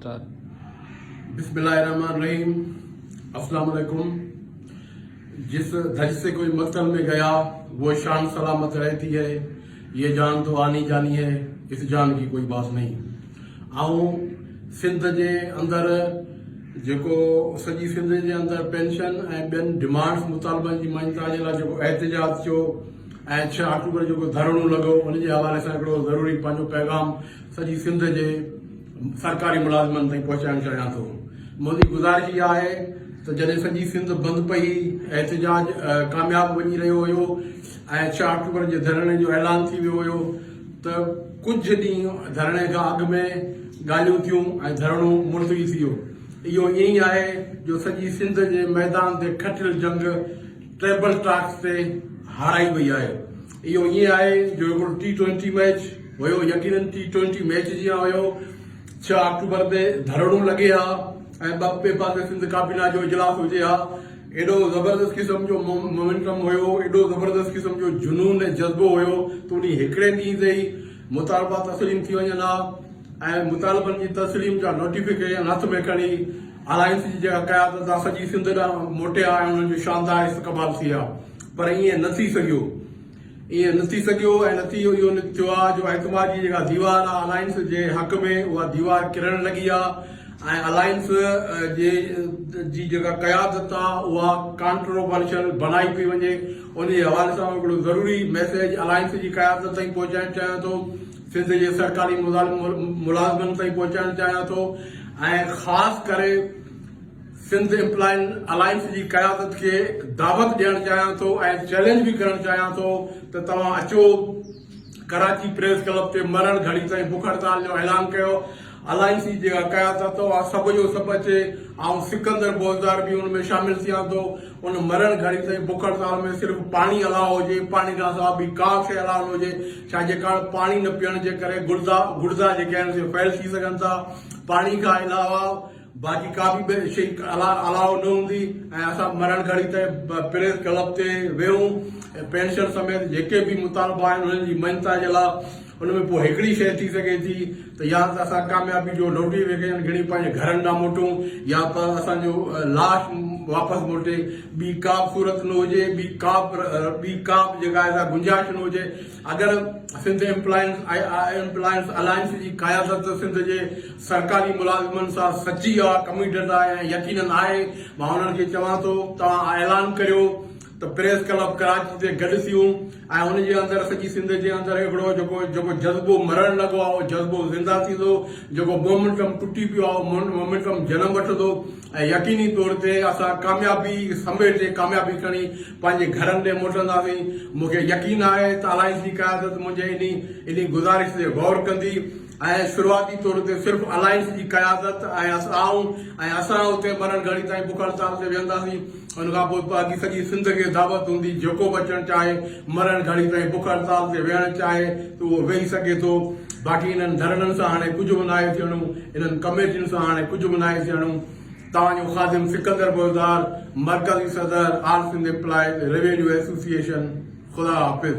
بسم الله الرحمٰن الرحيم السلام عليڪم جس ڌج سي ڪوئي مقتل مي گيا وو شان سلامت رهتي هي يه جان تو آني جاني هي اس جان ڪي ڪوئي باس نهي آئون سنڌ جي اندر جيڪو سڄي سنڌ جي اندر پينشن ۽ ٻين ڊمانڊس مطالبن جي مڃتا جي لاء جيڪو احتجاج ٿيو ۽ ڇهه آڪٽوبر جيڪو ڌرڻو لڳو ان جي حوالي سان هڪڙو ضروري پنهنجو پيغام سڄي سنڌ جي سرڪاري ملازمن تائين پهچائڻ چاهيان ٿو منهنجي گذارش اها آهي ته جڏهن سڄي سنڌ بند پئي احتجاج ڪامياب وڃي رهيو هيو ۽ ڇهه آڪٽوبر جي ڌرڻي جو اعلان ٿي ويو هيو ته ڪجهه ڏينهن ڌرڻي کان اڳ ۾ ڳالهيون ٿيون ۽ ڌرڻو ملتوي ٿي ويو اهو ائين ئي آهي جو سڄي سنڌ جي ميدان تي کٽيل جنگ ٽريبل ٽاڪس تي هارائي وئي آهي اهو ائين آهي جو هڪڙو ٽي ٽوئنٽي ميچ هيو، يقينن ٽي ٽوئنٽي ميچ جيان هيو، ڇهه آڪٽوبر تي ڌرڻو لڳي ها ۽ ٻه پي بعد ۾ سنڌ ڪابينا جو اجلاس هجي ها، ايڏو زبردست قسم جو مومينٽم هيو، ايڏو زبردست قسم جو جنون ۽ جذبو هيو ته انهي هڪڙي ڏينهن تي ئي مطالبا تسليم ٿي وڃن ها ۽ مطالبن جي تسليم جا نوٽيفڪيشن هٿ ۾ کڻي الائنس جي جيڪا قيادت آ سڄي سنڌ ڏانهن موٽي ها ۽ انهن جو شاندار استقبال ٿئي ها. پر ائين نه ٿي سگهيو. ائين نه ٿي سگهيو ۽ نتيجو اهو نڪتيو آهي جو اعتماد جي جيڪا ديوار آهي الائنس جي حق ۾ اها ديوار ڪرڻ لڳي آهي ۽ الائنس جي جي جيڪا قيادت آهي اها ڪانٽروورشل بڻائي پئي وڃي ان جي حوالي سان هڪڙو ضروري ميسيج الائنس جي قيادت تائين پهچائڻ چاهيان ٿو سنڌ جي سرڪاري ملازمن تائين پهچائڻ چاهيان ٿو ۽ خاص ڪري سنڌ امپلائين الائنس جي قيادت کي دعوت ڏيڻ چاهيان ٿو ۽ چئلينج به ڪرڻ چاهيان ٿو ته توهان اچو ڪراچي پريس ڪلب تي مرڻ گهڙي تائين بک هڙتال جو اعلان ڪيو الائنس جي جيڪا قيادت اها سڀ جو سڀ اچي آئون سڪندر بوزدار به ان ۾ شامل ٿيان ٿو ان مرڻ گهڙي تائين بک هڙتال ۾ صرف پاڻي الاء هجي پاڻي کان سواء ٻي ڪا شيء الاء نه هجي ڇا جي ڪارڻ پاڻي نه پيئڻ جي ڪري گڙدا گڙدا جيڪي آهن سي فيل ٿي سگهن ٿا پاڻي کان علاوه باقي ڪا به ٻي شئي الا الاء نه هوندي ۽ اسان مرڻ گهڙي تائين پريس ڪلب تي ويهون ۽ پينشن سميت جيڪي به مطالبا آهن انهن جي مڃتا جي لاء ان ۾ پوء هڪڙي شئي ٿي سگهي ٿي ته يا ته اسان ڪاميابي جو لوٽي ويڪيشن گهڻي پنهنجي گهرن ڏانهن موٽون يا ته اسان جو لاش واپس موٽي ٻي ڪا به صورت نه هجي ٻي ڪا به ٻي ڪا به جيڪا آهي سا گنجائش نه هجي اگر سنڌ ايمپلائيز ايمپلائيز الائنس جي قيادت سنڌ جي سرڪاري ملازمن سان سچي آ، ڪميٽيڊ آ ۽ يقينن آهي، مان انهن کي چوان ٿو توهان اعلان ڪريو ته پريس ڪلب ڪراچي تي گڏ ٿيون ۽ ان جي اندر سڄي سنڌ جي اندر هڪڙو جيڪو جيڪو جذبو مرڻ لڳو آ اهو جذبو زنده ٿيندو، جيڪو مومينٽم ٽٽي پيو آ اهو مومينٽم جنم وٺندو ۽ يقيني طور تي اسان ڪاميابي سميٽ ڪاميابي کڻي پنهنجي گهرن ڏي موٽنداسين، مون کي يقين آهي ته الائنس جي قيادت منهنجي انهي انهي گذارش تي غور ڪندي ۽ شروعاتي طور تي صرف الائنس جي قيادت ۽ آئون ۽ اسان اتي مرڻ گهڙي تائين بک هڙتال تي ويهنداسين ان کان پوء باقي سڄي سنڌ کي دعوت هوندي جيڪو به اچڻ چاهي مرڻ گهڙي تائين بک هڙتال تي ويهڻ چاهي ته اهو ويهي سگهي ٿو باقي انهن ڌرڻن سان هاڻي ڪجهه به ناهي ٿيڻو انهن ڪميٽين سان هاڻي ڪجهه به ناهي ٿيڻو. توهان جو خادم سڪندر بوزدار مرڪزي صدر all Sindh employees revenue association خدا حافظ.